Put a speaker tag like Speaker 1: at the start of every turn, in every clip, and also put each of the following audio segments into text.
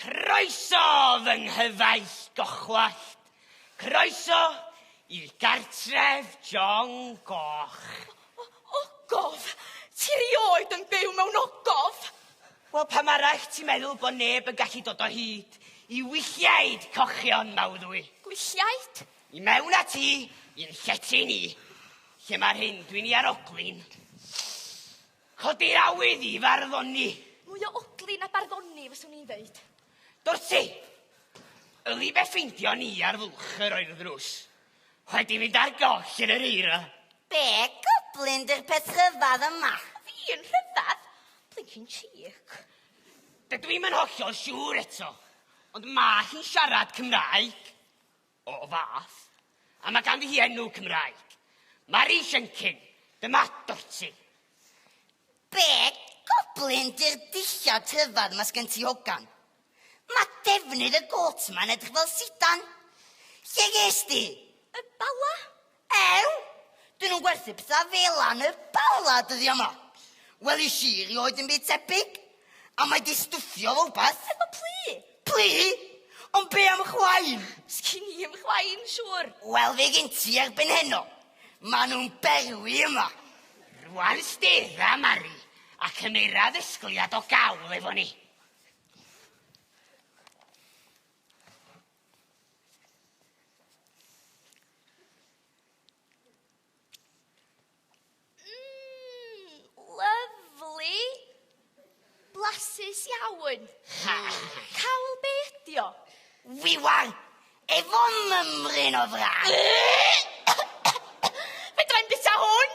Speaker 1: Croeso fy nghyfaill gochwallt. Croeso i'r gartref John Goch. O, ogof!
Speaker 2: Ti rioed yn byw mewn ogof! Wel, pam
Speaker 1: arall ti'n meddwl bod neb yn gallu dod o hyd i wylliaid cochion mawddwy? Gwylliaid?
Speaker 2: I mewn a
Speaker 1: ti i'n llety ni, lle mae'r hyn dwi'n i aroglyn. Codi'r awydd i farddoni. Mwy o odli
Speaker 2: na barddoni, fyswn i'n dweud. Dorsi!
Speaker 1: Yli be ffeindio ni ar fwlch yr oer ddrws. Wedi fynd ar goll yn yr eira. Be
Speaker 3: goblin dy'r peth rhyfedd yma? Fi yn rhyfedd?
Speaker 2: Blincin chic. Dydw
Speaker 1: i'm yn hollol siŵr eto, ond mae hi'n siarad Cymraeg. o fath, a mae ganddi hi enw Cymraeg. Mari Shenkin, dyma Dorti.
Speaker 3: Be goblin di'r dillad rhyfedd ma sgen ti hogan? Ma defnydd y goat ma'n edrych fel sidan. Lle ges di? Y Bala,
Speaker 2: Ew!
Speaker 3: Dyn nhw'n gwerthu pethau fela yn y Bala dyddiau yma. Welis i rioed dim byd tebyg. A mae di stwffio fo wbeth. Efo plu?
Speaker 2: Plu?
Speaker 3: Ond be am chwain? Sgin i i'm
Speaker 2: chwain, siŵr. Wel, fe gen ti
Speaker 3: erbyn heno. Mae nhw'n berwi yma. Rwan
Speaker 1: stedda, Mari, a cymera ddisgwyliad o gawl efo ni.
Speaker 2: Blasus iawn. Cawl be ydi o? Wiwan!
Speaker 3: Efo mymryn o frân!
Speaker 2: Fedrai'm bita hwn!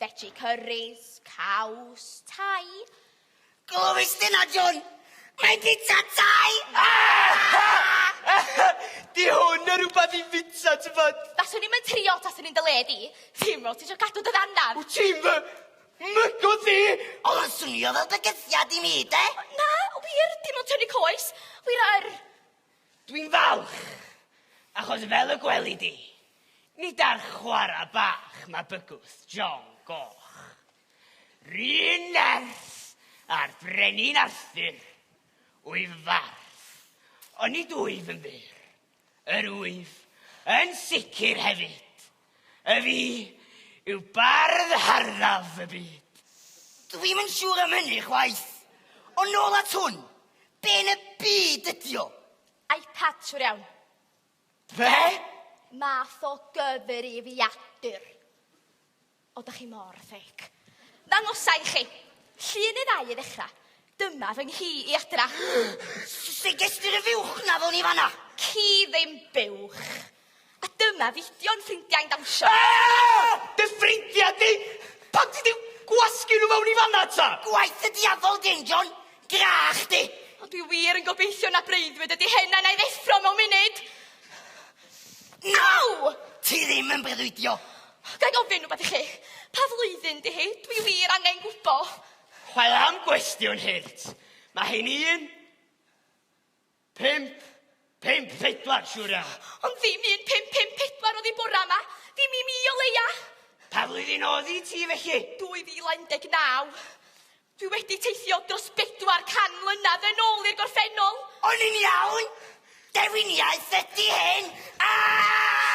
Speaker 2: Fetsi cyrris, caws, tai. Glywis
Speaker 3: di na, John? Mae'n bita tai!
Speaker 1: Di hwn yn rhywbeth i fita, ti'n bod? Faswn i'n mynd trio tas
Speaker 2: yn un dy le di. Ddim fel ti eisiau cadw dy ddanan. Wyt ti'n fy
Speaker 1: mygo di? Oedd o'n swnio
Speaker 3: fel bygythiad i mi, de? Na, wir,
Speaker 2: dim ond tynnu coes. Wyr yr... Dwi'n
Speaker 1: falch, achos fel y gweli di, nid ar chwarae bach mae bygwth John Goch. R'un nerth â'r Brenin Arthur, wyf farth, ond nid wyf yn fyr. Yr wyf yn sicr hefyd Ef i yw bardd harddaf y byd. Dw i'm yn
Speaker 3: siŵr am hynny chwaith. Ond nôl at hwn, be yn y byd ydi o? iPad, siwr
Speaker 2: iawn. Be? Math o gyfrifiadur. O, da chi mor ffeic. Ddangosa i chi. Llun neu ddau i ddechrau. Dyma fy nghi i, Adra. Sut
Speaker 3: gest ti ry fuwch na fo ni fanna? Ci ddim
Speaker 2: buwch. A dyma fidio'n ffrindiau'n dawnsio. Ah! Dy
Speaker 1: ffrindia di! Pam ti di gwasgu nhw mewn i fanna ta? Gwaith y diafol
Speaker 3: di, John. Grach di. Ond dwi wir yn
Speaker 2: gobeithio na breuddwyd ydi hyn a na i ddeffro mewn munud. Naw!
Speaker 3: Ti ddim yn breuddwydio. Ga i ofyn
Speaker 2: rhywbeth i chi? Pa flwyddyn di hi? Dwi wir angen gwybod. Wel am
Speaker 1: gwestiwn hurt. Mae hi'n un, pimp, pimp, pedwar, siwr ia. Ond ddim un, pimp,
Speaker 2: pimp, pedwar oedd hi bora yma. Ddim i mi o leia. Pa flwyddyn
Speaker 1: oedd hi ti felly? 2019.
Speaker 2: Dwi wedi teithio dros 400 mlynedd yn ôl i'r gorffennol.
Speaker 3: O'n i'n
Speaker 2: iawn? Dewiniaeth
Speaker 3: ydy hyn! Aaaaah!